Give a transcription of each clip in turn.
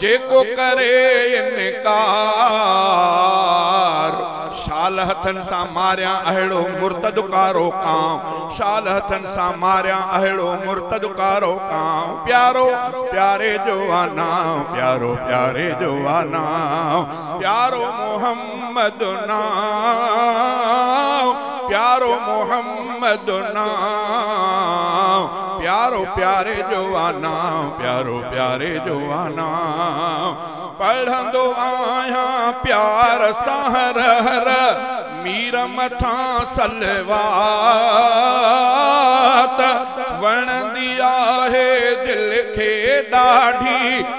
جيڪو ڪري انڪار، شال هٿن سان ماريان اهڙو مرتد ڪارو ڪانء، شال هٿن سان ماريان اهڙو مرتد ڪارو ڪانء، پيارو پياري جو آ نانء، پيارو پياري جو آ نانء، پيارو محمد. محمد نام پيارو محمد نام پيارو پياري جو آ نام پيارو پياري جو آ نام پڙهندو آهيان پيار سان هر هر مير مٿان صلوات وڻندي آهي دل کي ڏاڍي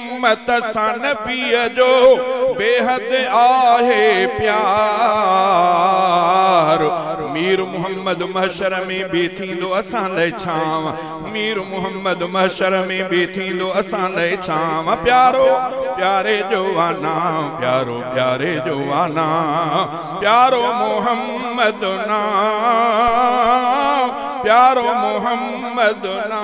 امت سان نبيء جو بيحد آهي پيار مير محمد محشر ۾ به ٿيندو اسان لئه ڇانو مير محمد محشر ۾ به ٿيندو اسان لئه ڇانو پيارو پياري جو آنا پيارو پياري جو آنا پيارو محمد نا پيارو محمد نا